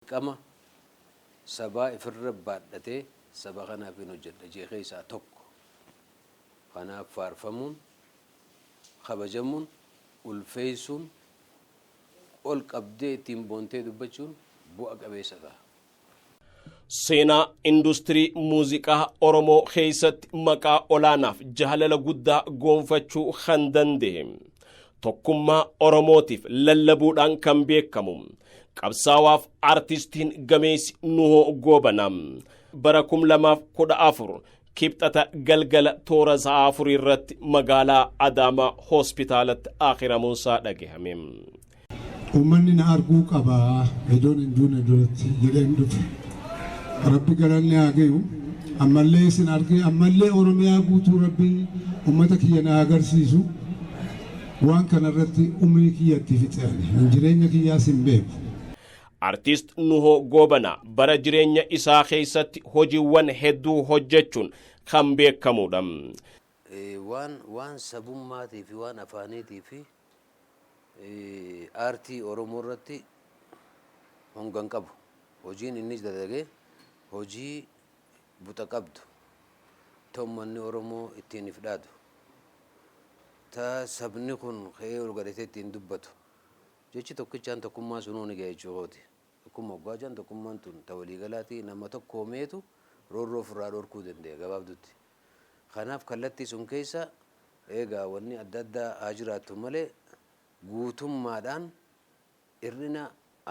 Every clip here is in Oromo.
Dirqama sabaa ifirra baadhatee saba kanaafin hojjedha jee keessaa tokko. Kanaaf faarfamuun, kabajamuun, ulfeessuun, ol qabdee ittiin boontee dubbachuun bu'a qabeessa taha. Seenaa industirii muuziqaa Oromoo keessatti maqaa olaanaaf jaalala guddaa goonfachuu kan danda'e Tokkummaa Oromootiif lallabuudhaan kan beekamu qabsaawaaf artistiin gameessi Nuhoo Goobana bara 2014 kibxata galgala toora sa'a afurii irratti magaalaa Adaamaa hospitaalatti akiramuunsaa dhagahame. Uummanni na arguu qaba idoon hin duune duratti jedheen dhufe. Rabbi galanni haa gayu. Ammallee isin argee ammallee Oromiyaa guutuu Rabbiin uummata kiyya na agarsiisu. Waan kanarratti umrii kiyya itti fixe ani. Jireenya kiyyaas hin beeku. Artiist Nuhoo Goobanaa bara jireenya isaa keessatti hojiiwwan hedduu hojjechuun kan beekamudha. Waan waan sabummaatii fi waan afaaniitii fi aartii Oromoo irratti honga hin qabu. Hojiin inni dalage hojii buxa qabdu, ta ummanni Oromoo ittiin if dhaadu, ta sabni kun ka'ee ol gadhatee ittiin dubbatu. Jechi tokkichaan tokkummaa sunuu ni gahe jechuu kooti. Tokkumma oggaa jedhan tokkummaan tun ta waliigalaati, nama tokkoomeetu roorroo ufirraa dhorkuu dande'a gabaabdutti. Kanaaf kallattii sun keessa eegaa wanni adda addaa haa jiraattu malee guutummaadhaan hir'ina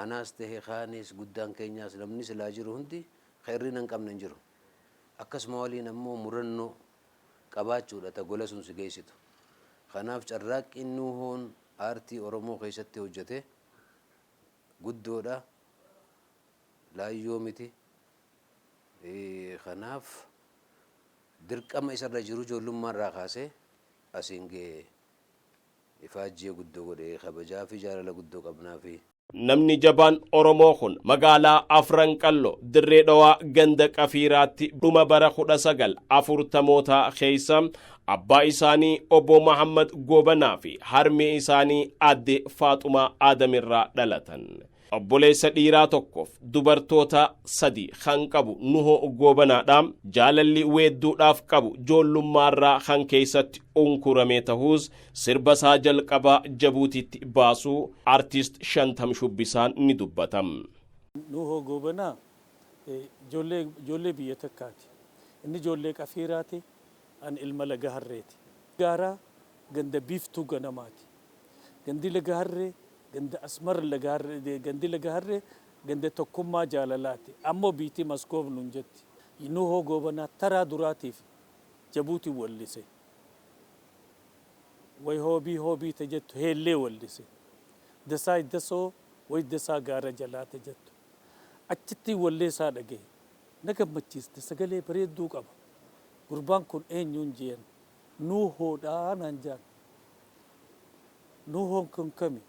anaas tahe kaanis guddaan keenyaas namni silaa jiru hundi ka hir'ina hin qabne hin jiru. Akkasuma waliin ammoo murannoo qabaachuudha ta gola sun si geessitu. Kanaaf carraaqqiin Nuuhoon aartii Oromoo keessatti hojjate guddoodha, laayyoo miti, Kanaaf dirqama isa irra jiru ijoollummaa irraa kaasee asiin ga'e. Ifaajjee guddoo godhe. Kabajaa fi jaalala guddoo qabnaafi. Namni jabaan Oromoo kun magaalaa Afran Qalloo, Dirree Dhawaa, ganda Qafiiraatti dhuma bara 19 afurtamootaa keessa abbaa isaanii Obbo Mahaammad Goobanaa fi harmee isaanii Aadde Faaxumaa Aadam irraa dhalatan. Obboleessa dhiiraa tokkoof dubartoota sadi kan qabu Nuhoo Goobanaadha. Jaalalli weedduudhaaf qabu joollummaarraa kan keessatti unkuramee tahuus sirba isaa jalqabaa Jabuutiitti baasuu artist Shantam Shubbisaan ni dubbata. Nuhoo Goobanaa ijoollee biyya takkaati. Inni ijoollee Qafiiraati, ani ilma Laga Harreeti. Gaaraa ganda Biiftuu Ganamaati. Gandi Laga Harree ganda Asmar Laga Harree gandi Laga Harree ganda tokkummaa jaalalaati ammo biyti Maskoof nun jetti. Nuhoo Goobanaa taraa duraatiif Jabuutin wallise. Way hoobii hoobii ta jettu Heellee wallise. Dasaay Dasoo way dasaa gaara jalaa ta jettu achittin walleesaa dhagahe. Na gammachiiste sagalee bareedduu qaba. Gurbaan kun eenyuun jeen Nuuhoodha naan jaan. Nuuhoon kun kami?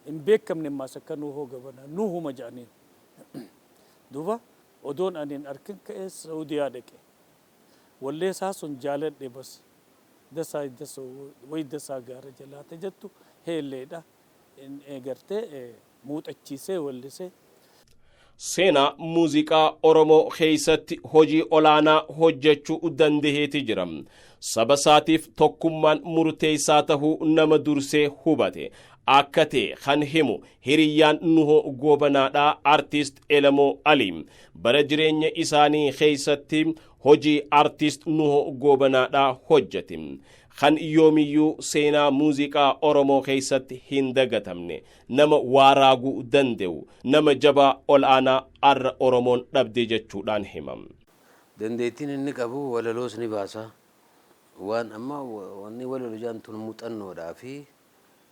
Hin beekamne ammaas akka Nuuhoo gabanaa. Nuuhuma ja'aniin. Duuba odoon ani hin arkin ka'ee Sa'uudiyaa dhaqe. Wallee isaa sun jaaladhe bas. Dasaa Iddaso way Dasaa Gaara Jalaa ta jattu heelleedha. Gartee. muuxachiisee weellise. Seenaa muuziqaa Oromoo keessatti hojii olaanaa hojjechuu dandaheeti jira. Saba isaatiif tokkummaan murteessaa tahuu nama dursee hubate akka ta'e kan himu hiriyyaan Nuhoo Goobanaadha Artiist Elemoo Alii. Bara jireenya isaanii keessatti hojii Artiist Nuhoo Goobanaadha hojjete. Kan yoomiyyuu seenaa muuziqaa Oromoo keessatti hin dagatamne. Nama waa raaguu dande'u, nama jabaa ol'aanaa arra Oromoon dhabde jechuudhaan hima. Dandeettiin inni qabu walaloos ni baasa. Waan amma wanni walalo jedhan tun muxannoodhaa fi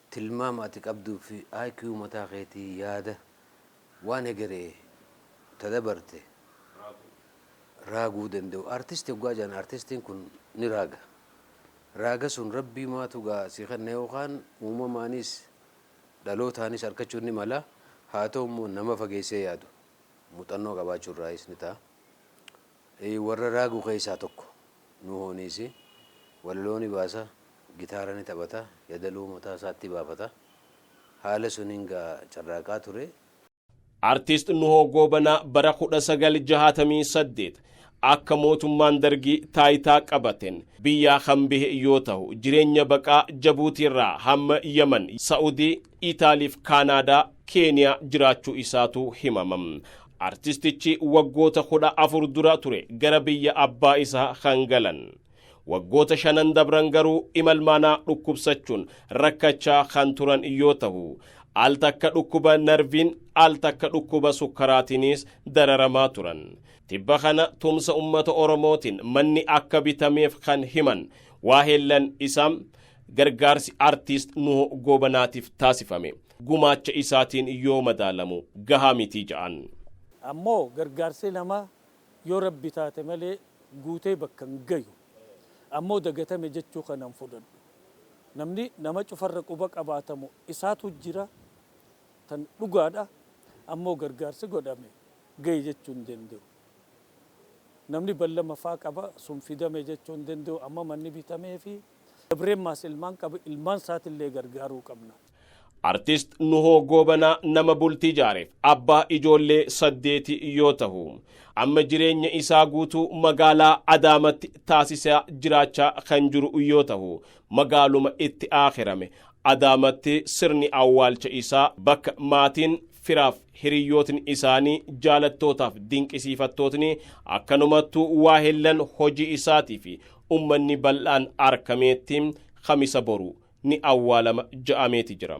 tilmaama ati qabduu fi IQ mataa keetii yaada waan hegeree ta dabarte raaguu dande'u. Artisti hoggaa jedhan artistiin kun ni raaga. Raaga sun Rabbii maatu gaa si kenna yookaan uumamaaniis dhalootaanis arkachuun ni mala. Haa ta'u immoo nama fageessee yaadu, muxannoo qabaachuu irraayis ni ta'a. Warra raagu keessaa tokko Nuuhooniisi. Walaloo ni baasa, gitaara ni taphata, yadaloo mataa isaatti baafata. Haala suniin gaa carraaqaa ture. Artist Nuhoo Goobanaa bara 1968 akka mootummaan dargii taayitaa qabateen biyyaa kan bahe yoo tahu jireenya baqaa Jabuutiirraa hamma Yaman, Sa'udii, Itaaliif Kaanaadaa, Keeniyaa jiraachuu isaatu himama. Artistichi waggoota 14 dura ture gara biyya abbaa isaa kan galan. Waggoota shanan dabran garuu imalmaanaa dhukkubsachuun rakkachaa kan turan yoo tahu, al takka dhukkuba narviin, al takka dhukkuba sukkaraatiinis dararamaa turan. Tibba kana tumsa ummata Oromootiin manni akka bitameef kan himan waaheellan isaa, gargaarsi Artiist Nuhoo Goobanaatiif taasifame gumaacha isaatiin yoo madaalamu gahaa miti ja'an. Ammoo gargaarsi namaa Yoo Rabbi taate malee guutee bakka hin gayu. Ammoo dagatame jechuu kana hin fudhadhu. Namni nama cufarra quba qabaatamu isaatu jira tan dhugaadha. Ammoo gargaarsi godhame gaye jechuu hin dandayu. Namni ballama faa qaba sun fidame jechuu hin dandayu. Amma manni bitameefi. Dabremmaas ilmaan qaba ilmaan isaatillee gargaaruu qabna. Artist Nuhoo Goobanaa nama bultii jaareef abbaa ijoollee saddeeti yoo tahu, amma jireenya isaa guutuu magaalaa Adaamatti taasisaa jiraachaa kan jiru yoo tahu, magaaluma itti aakhirame Adaamatti sirni awwaalcha isaa bakka maatiin, firaaf hiriyyootni isaanii, jaalattootaaf dinqisiifattootni, akkanumattuu waahillan hojii isaatii fi ummanni bal'aan arkameetti Kamisa boru ni awwaalama ja'ameeti jira.